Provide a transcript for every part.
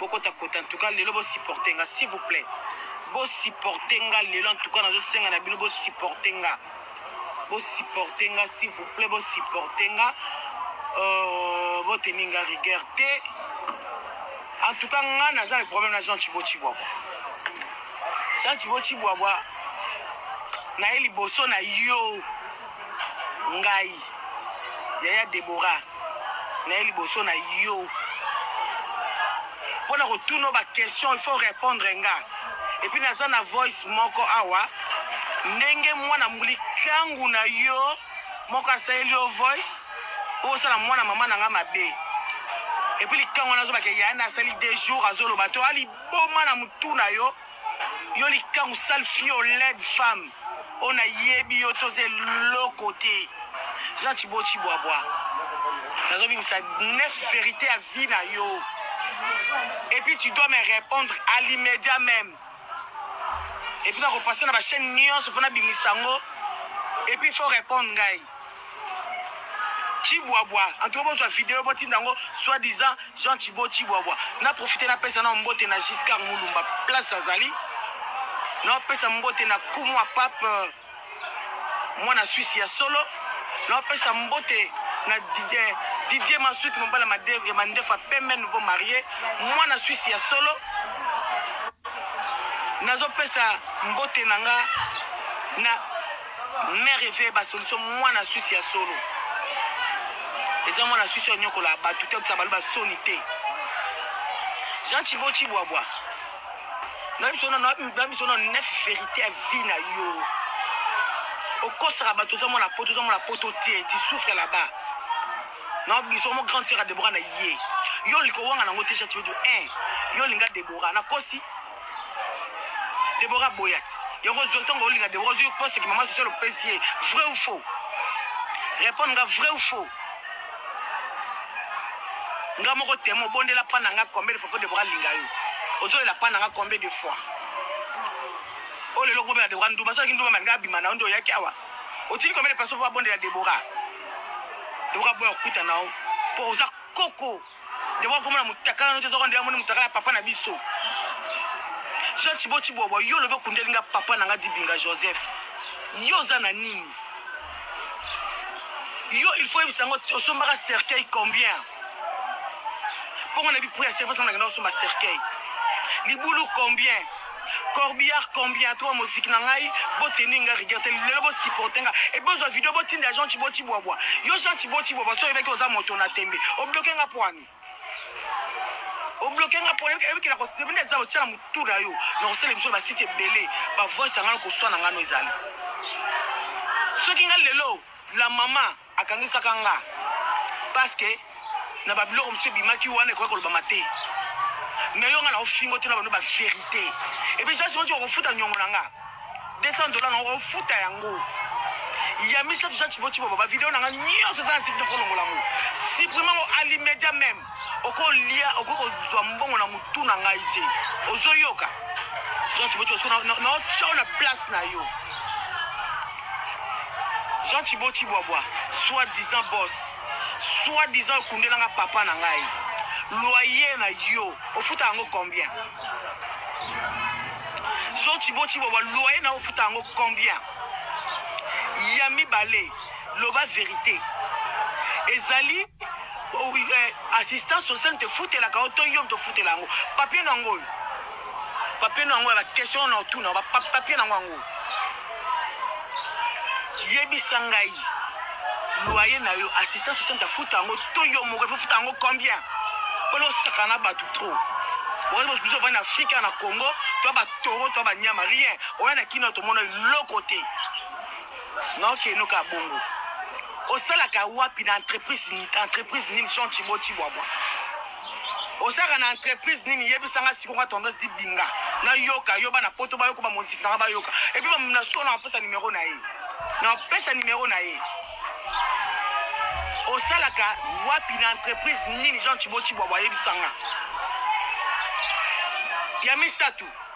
bokota kota en tout cas lelo bo supporter nga s'il vous plaît bo supporter nga lelo en tout cas nazo senga na bino bo supporter nga bo supporter nga s'il vous plaît bo supporter nga euh, bo tenir nga rigueur te en tout cas nga naza le problème na Jean Chibo Chibwabwa Jean Chibo Chibwabwa naye liboso na yo Ngai yaya Deborah naye liboso na yo pona kotuna yo ba question il faut repondre nga epuis naza na voice moko awa ndenge mwana likangu na yo moko asaleli yo voice po osala mwana mama na nga mabe epuis likangu wana azobake yaya nasali deux jours azoloba to aliboma na mutu na yo Yo likangu sale fio led femme oyo na yebi yo toza eloko te Jean Chibo Chibwabwa nazo bimisa neuf verite ya vie na yo et puis tu dois me répondre à l'immédiat même et puis nako passer na ba chaîne nyonso pona bimisa ngo et puis faut répondre ngai Chibwabwa en tout cas bozwa video botinda yango soit disant Jean Chibo Chibwabwa na profiter na pesa na mbote na Giscard Mulumba place azali na pesa mbote na kumwa pape euh, mwana Suisse ya solo na pesa mbote na Didier, Didier Massoud mobala ya mandefa pembe nouveau marié mwana Suisse ya solo nazopesa mbote na nga na Mère Eve yeba solution mwana Suisse ya solo. Eza mwana Suisse onyokola batu te kusa baluba soni te. Jean Chibo Chibwabwa. Na biso na na biso na neuf vérité ya vie na yo. Okosaka bato oza mwana poto oza mwana poto te tu souffre là-bas. Na biso mo grande sœur ya Deborah na ye. Yo likowanga nango te Jean Chibo. Eh, yo linga Deborah na kosi. Deborah Boyat. Yoko Zontongo Olinga Deborah Ozuyo Poste qui maman Sosolo Pesier. Vrai ou faux Répondre nga vrai ou faux Nga moko temo bondela pa nanga combien de fois pour Deborah Linga yo Ozo la pa nanga combien de fois Oh le logo bela Deborah Ndouba Soki Ndouba manga bima na ondo yaki awa Otili combien de personnes pour bondela Deborah Deborah Boyat Kuta nao Pour oza koko Debo akomona mutakala no te zoko nde amoni mutakala papa na biso. Jean Chibo Chibobo yo lobe kundeli nga papa na nga Dibinga Joseph. Yo za na nini? Yo il faut yebisa ngo osombaka cercueil combien? Pongo na bi prix ya cercueil parce que na kenda osomba cercueil. Libulu combien? Corbillard combien trois moziki na ngai bo tenir nga rigueur te lelo bo supporter nga et bozwa video bo tinda Jean Chibo Chibwabwa yo Jean Chibo Chibwabwa so yebaki oza moto na tembe o bloquer nga poani obloke nga pona ebikela kosepende eza otya na motu na yo na kosala emission na basite ebele bavoice yanga na koswana nga no ezali soki nga lelo la mama Akangisaka nga parce que na ba biloko mosusu ebimaki wana ekoki kolobama te mais yo nga na ofingo te na bano ba verite epuis jasi moti okofuta nyongo na nga 200 dola na okofuta yango ya misato jasi moti bobo bavideo na nga nyonso eza na site nakolongola yango supprime yango alimedia meme oko lia oko ko zwa mbongo na mutu na ngai te ozo yoka Jean Chiboti ozo na na chao na place na yo Jean Chiboti bwabwa soit disant boss soit disant okundela nga papa na ngai loyer na yo ofuta yango combien Jean Chiboti bwabwa loyer na ofuta yango combien ya mibale Loba verite ezali eh, assistance sociale moto efutelaka yo to yo moto ofutela yango papie na yango oyo papie na yango ya baquestion na otuna papie na yango yango yebisa ngai loye na yo assistance sociale moto afuta yango to yo moko efofuta yango combien mpona osaka na bato trop oyebi biso ovandi na afrika na congo to batoro to banyama rien oya na kino tomona eloko te Non que no ka bongo. Osalaka wapi na entreprise entreprise nini Jean Chibo Chibwabwa? Osalaka na entreprise nini yebisa nga siko nga tendance di binga na yoka yo bana poto ba yoko ba musique na nga ba yoka et puis ba na solo na pesa numéro na ye na pesa numéro na ye osalaka wapi na entreprise nini Jean Chibo Chibwabwa yebisa nga ya misato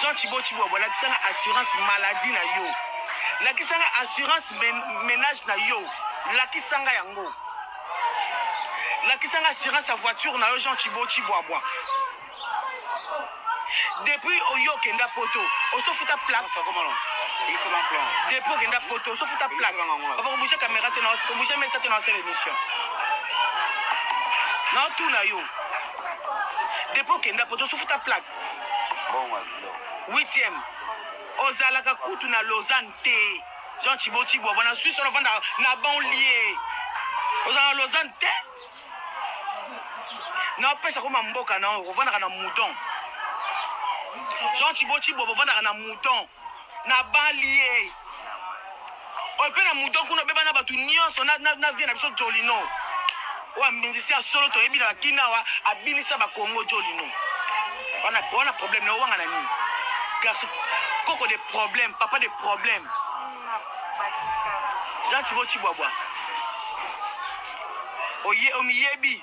Jean Chibo Chibwabwa, lakisa nga assurance maladie na yo, lakisa nga assurance men menage na yo, lakisa nga yango, lakisa nga assurance ya voiture na yo Jean Chibo Chibwabwa. Depuis oyo okenda poto, osofuta plaque. Depuis okenda poto, osofuta plaque. Papa kobouge caméra te na osi, kobouge mesa te na osala émission. Na otuna yo. Depuis okenda poto osufuta plaque. Bongo biloko. Huitième. Ozalaka kutu na Lausanne te. Jean Chibo Chibo bona Suisse on vanda na banlieue. Ozalaka Lausanne te. Na pesa ko mamboka na ovandaka na mouton. Jean Chibo Chibo ovandaka na mouton. Nabali ye. Oyo mpe na moto kuna obeba na bato nyonso na, na, na vie na biso Jolino. Oyo ambinzisi ya solo toyebi na bakina awa abinisa bakongo Jolino. Wana wana problème na owanga na nini? Garçon koko de problème, papa de problème. Jean Chibo Chibwabwa. Oye omiyebi.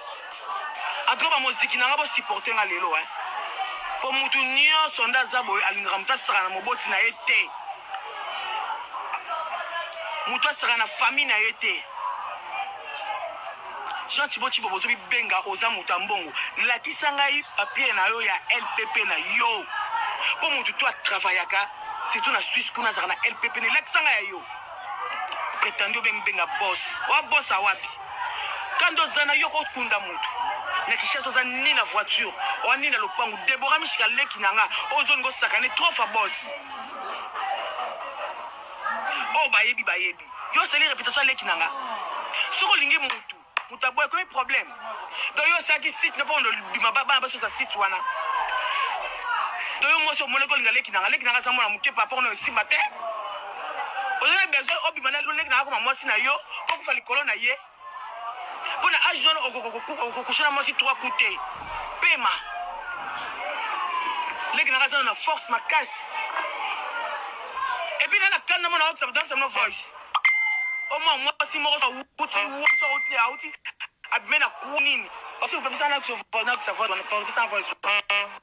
en tout cas bamoziki na nga bosupporte nga lelo hein mpo motu nyonso nde aza boye alingaka moto asaka na moboti na ye te moto asaka na famille na ye te jean ciboci bobozo bibenga oza moto ya mbongo lakisa ngai papier na yo ya lpp na yo mpo motu to atravayaka surtout na suisse kuna azalaka na lpp nelakisa ngai ya yo pretendu obenga bos wa bos awapi Kanda oza na yo ko kunda mutu na Kinshasa oza ni na voiture oza ni na lopangu Deborah Mishika leki na nga ozo ngo sakane trop fa boss oyo oh, bayebi bayebi yo osali reputation leki na nga soki olingi mutu mutu aboya ekomi problème donc yo osalaki site na mpo ondo bima bana basosa site wana donc yo mwasi omonaki olinga leki na nga leki na nga aza mwana moke par rapport na osimba te oza na besoin obima na lolenge na akoma mwasi na yo okufa likolo na ye mpo na age wana okokusha na mwasi trois coup te pema leki naka azana na force makasi epuis nana kani namona osamno voice oma mwasi moko auti auti auti abime na ku nini parce que opemisa na savoir wana opemisa na voice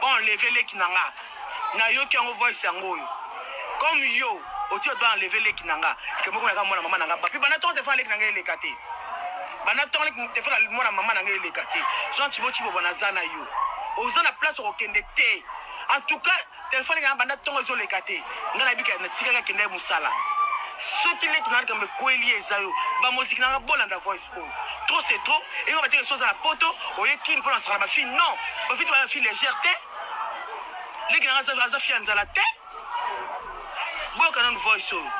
Bon leve leki na nga nayoki yango voice yango oyo comme yo oti bato bana leve leki na nga kemoko naka mwana mama na nga bapi bana tongo telefona leki na nga eleka te bana tongo leki telefona mwana mama na nga eleka te jean cibo cibo bona za na yo oza na place okokende te en tout cas telefone nga banda tongo ezoleka te nga nayebika natikaka kenda ye mosala soki leki na nga likambo ekweli eza yo bamoziki na nga bolanda voice trop c'est trop eko bateke soki oza na poto oye kini mpo na sala bafi non bafi te bafi légère te leki nanga aza fi ya nzala te boyoka nanu voice oyo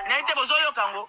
naye te bozoyoka yango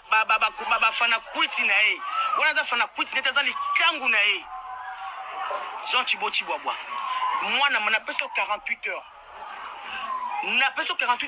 Ba ba ba ba ba fanakwiti na ye wana aza fanakwiti nete aza likangu na ye Jean Chibo Chibwabwa mwana ma napesi yo 48 heures napesi yo 48